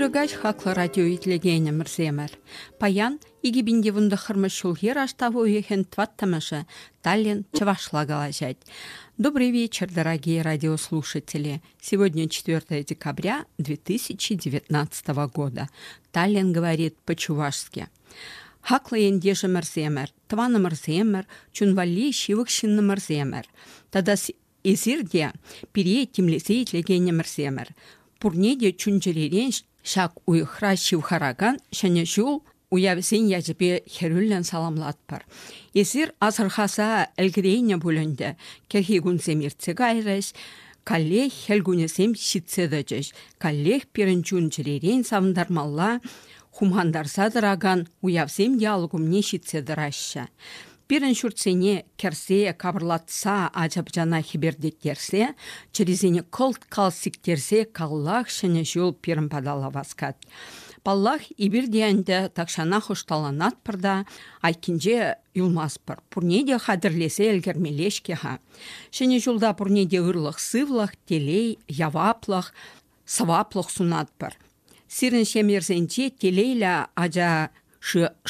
Ырӑкаҫ хаклӑ радио итлекенӗмӗрсемӗр. Паян 2019 ҫулхи раштав уйӑхӗн тӑваттӑмӗшӗ Таллин чӑвашла калаҫать. Добрый вечер, дорогие радиослушатели. Сегодня 4 декабря 2019 года. Таллин говорит по-чувашски. Хаклӑ ентешӗмӗрсемӗр, тӑванӑмӑрсемӗр, чун валли ҫывӑх ҫыннӑмӑрсемӗр тата эсир те пире тимлесе итлекенӗмӗрсемӗр, пурне те чун-чӗререн ҫак уйӑхра ҫывхаракан Ҫӗнӗ ҫул уявӗсен ячӗпе хӗрӳллӗн саламлатпӑр. Эсир асӑрхаса ӗлкӗрейнӗ пуль ӗнтӗ, кӗрхи кунсем иртсе кайрӗҫ, каллех хӗл кунӗсем ҫитсе тӑчӗҫ, каллех пирӗн чун-чӗререн савӑнтармалла, хумхантарса тӑракан уявсем ял умне ҫитсе тӑраҫҫӗ. Пирӗн ҫуртсене кӗрсе, капӑрлатса, ача-пӑчана хӗпӗртеттерсе, чӗрисене кӑлт-калт сиктерсе каллах ҫӗнӗ ҫул пирӗн паталла васкать. Паллах, эпир те ӗнтӗ тахҫанах ӑшталанатпӑр та айккинче юлмастпӑр. Пурне те хатӗрлесе ӗлкӗрмелле-ҫке-ха. Ҫӗнӗ ҫулта пурне те ырлӑх-сывлӑх, телей, яваплӑх, сӑваплӑх сунатпӑр. Сирӗн ҫемйӗрсенче телейлӗ ача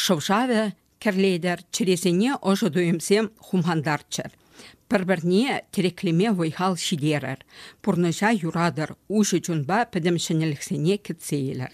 шӑв-шавӗ кӗрлетӗр, чӗресене ӑшӑ туйӑмсем хумхантарччӑр. Пӗр-пӗрне тӗреклеме вӑй-хал ҫитерӗр, пурнӑҫа юратӑр, уҫӑ чунпа пӗтӗм ҫӗнӗлӗхсене кӗтсе илӗр.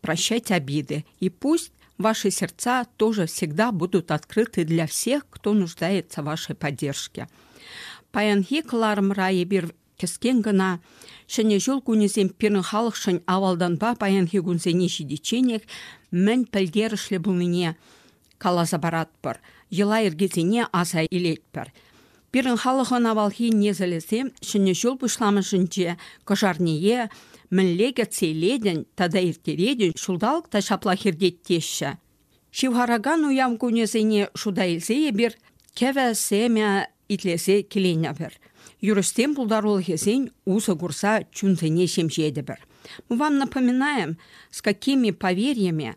Прощайте обиды, и пусть ваши сердца тоже всегда будут открыты для всех, кто нуждается в вашей поддержке. Паянхи кӑларӑмра эпир кӗскен гына Ҫӗнӗ ҫул кунӗсем пирӗн халӑхшӑн авалтанпа паянхи кунсене ҫитичченех мӗн пӗлтерӗшлӗ пулнине каласа паратпӑр, йӑла-йӗркесене аса илетпӗр. Пирӗн халӑхӑн авалхи несӗлӗсем Ҫӗнӗ ҫул пуҫламӑшӗнче кӑшарнее мӗнле кӗтсе илетӗн тата ирттеретӗн, ҫулталӑк та ҫаплах иртет Ҫывхаракан уяв кунӗсене шута илсе эпир кӗвӗ, семя итлесе киленӗпӗр. Юрӑҫсен пултарулӑхӗсен усӑ курса чунсене ҫемҫетӗпӗр. Мы вам напоминаем, с какими поверьями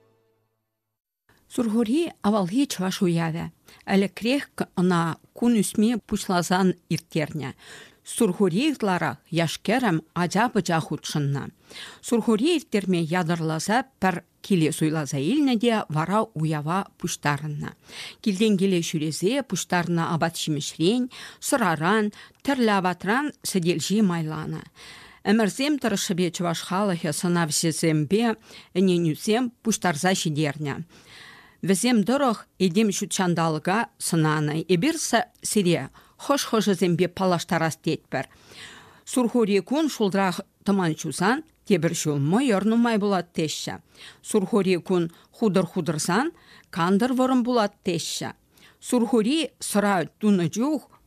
Сурхури авалхи чӑваш уявӗ. Ӗлӗкрех ӑна кун ӳсми пуҫласан ирттернӗ. Сурхури ытларах яш-кӗрӗм ача-пӑча хутшӑннӑ. Сурхури ирттерме ятарласа пӗр киле суйласа илнӗ те вара уява пуҫтарӑннӑ. Килтен киле ҫӳресе пуҫтарнӑ апат-ҫимӗҫрен, сӑраран, тӗрлӗ апатран сӗтелҫи майланӑ. Ӗмӗрсем тӑрӑшшӗпе чӑваш халӑхӗ сӑнавҫӑсемпе ӗненӳсем пуҫтарса ҫитернӗ. Вӗсем тӑрӑх этем ҫут ҫанталӑка сӑнанӑ. Эпир сире хӑш-хӑшӗсемпе паллаштарас тетпӗр. Сурхури кун шултрах тӑман ҫусан тепӗр ҫул мӑйӑр нумай пулать теҫҫӗ. Сурхури кун хутӑр хутӑрсан кантӑр вӑрӑм пулать теҫҫӗ. Сурхури сӑра тунӑ чух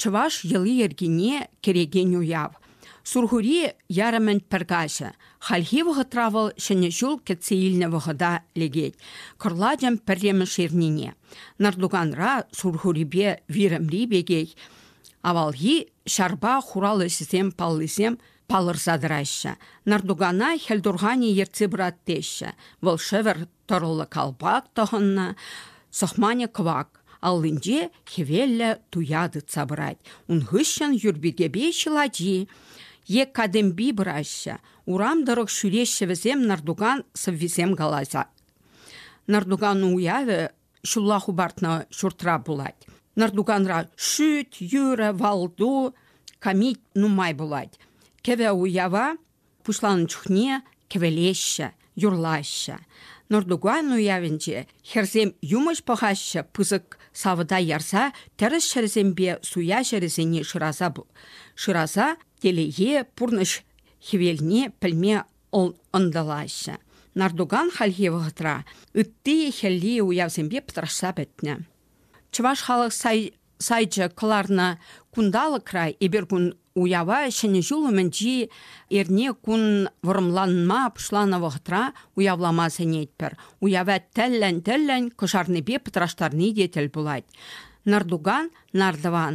Чӑваш йӑли-йӗркине кӗрекен уяв. Сурхури ярӑмӗн пӗр каҫӗ. Хальхи вӑхӑтра вӑл Ҫӗнӗ ҫул кӗтсе илнӗ вӑхӑта лекет. Кӑрлачӑн пӗрремӗш эрнине. Нартуканра Сурхурипе Вирӗмри пекех авалхи ҫарпа хурал ӗҫӗсем паллисем Палӑрса тӑраҫҫӗ. Нӑртукана хӗлтурханӗ ертсе пырать теҫҫӗ. Вӑл шӗвӗр тӑрӑллӑ калпак тӑхӑннӑ, сӑхманӗ кӑвак, аллинче хӗвеллӗ туя тытса пырать. Ун хыҫҫӑн юрпикепе ҫӑлачи е катемпи пыраҫҫӗ. Урам тӑрӑх ҫӳреҫҫӗ вӗсем нӑртукан сӑввисем каласа. Нӑртукан уявӗ ҫулла хӑпартнӑ ҫуртра пулать. Нӑртуканра шӳт, юрӑ, валту, камит нумай пулать. Кӗвӗ уява пуҫланӑ чухне кӗвӗлеҫҫӗ, юрлаҫҫӗ. Нӑртукан уявӗнче хӗрсем юмӑҫ пӑхаҫҫӗ пысӑк савӑта ярса тӗрӗс ҫӗрсемпе суя ҫӗрӗсене шыраса шыраса телее пурнӑҫ хӗвелне пӗлме ӑнтӑлаҫҫӗ. Нардуган хальхи вӑхӑтра ытти-хӗлли уявсемпе пӑтрашса пӗтнӗ. Чӑваш халӑх сайчӗ кӑларнӑ кунталӑкра эпир кун уява Ҫӗнӗ ҫул умӗнчи эрне кун вӑрӑмланма пуҫланӑ вӑхӑтра уявлама сӗнетпӗр. Уява тӗллӗн-тӗллӗн кӑшарнипе пӑтраштарни те тӗл пулать. Нардуган, нардӑван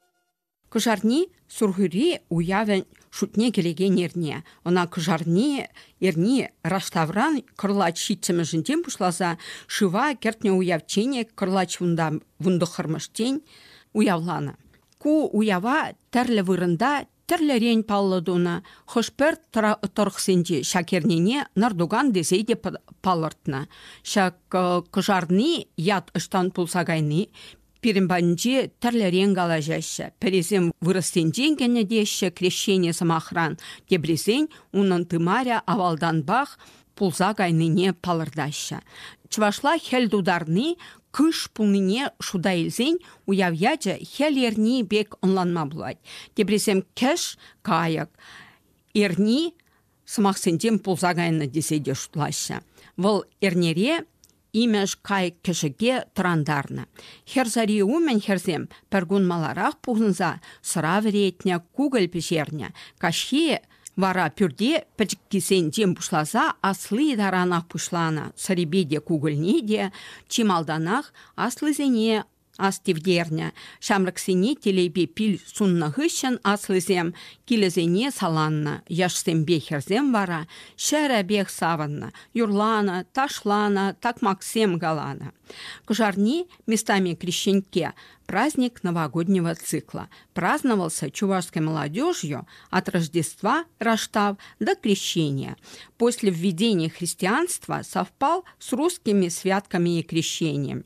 Кӑшарни Сурхури уявӗн шутне килекен эрне. Ӑна кӑшарни эрни раштавран кӑрлач ҫиччӗмӗшӗнчен пуҫласа шыва кӗртнӗ уявчченех кӑрлач вунта вунтӑххӑрмӗштен уявланӑ. Ку уява тӗрлӗ вырӑнта Тӗрлӗрен паллӑ тунӑ. Хӑш-пӗр тӑрӑхсенче ҫак эрнене Нӑртукан тесе те палӑртнӑ. Ҫак кӑшарни ят ӑҫтан пулса кайни пирӗн патӗнче тӗрлӗрен калаҫаҫҫӗ. Пӗрисем вырӑссенчен кӗнӗ теҫҫӗ крещение сӑмахран, теприсен унӑн тымарӗ авалтанпах пулса кайнине палӑртаҫҫӗ. Чӑвашла хӗл тутарни кыш пулнине шута илсен уяв ячӗ хӗл эрни пек ӑнланма пулать. Теприсем кӗш, кайӑк эрни сӑмахсенчен пулса кайнӑ тесе те шутлаҫҫӗ. Вӑл эрнере Имеш кайӑк-кӗшӗке тӑрантарнӑ. Хӗр сари умӗн хӗрсем пӗркун маларах пухӑнса сӑра вӗретнӗ, кукӑль пӗҫернӗ. Каҫхи вара пӳрте пӗчӗккисенчен пуҫласа асли таранах пуҫланӑ. Сӑрипе те кукӑльне те чи малтанах аслисене Ас тивтернӗ, ҫамрӑксене телейпе пил суннӑ хыҫҫӑн аслисем килӗсене саланнӑ, яшсемпе хӗрсем вара ҫӗрӗпех савӑннӑ, юрланӑ, ташланӑ, такмаксем каланӑ. Кӑшарни местами крещенке, праздник новогоднего цикла. Праздновался чувашской молодежью от Рождества, Раштав до крещения. После введения христианства совпал с русскими святками и крещением.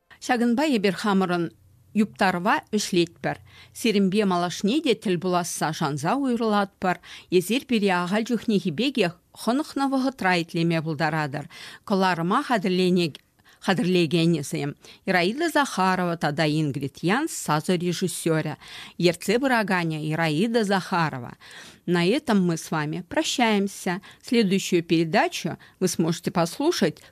Ҫакӑнпа эпир хамӑрӑн юптарӑва вӗҫлетпӗр. Сирӗнпе малашне те тӗл пуласса шанса уйрӑлатпӑр. Эсир пире ахаль чухнехи пекех хӑнӑхнӑ вӑхӑтра итлеме пултаратӑр. Кӑларӑма хатӗрлекенӗсем Ираида Захарова тата Ингрид Янс сасӑ режиссерӗ, ертсе пыраканӗ Ираида Захарова. На этом мы с вами прощаемся. Следующую передачу вы сможете послушать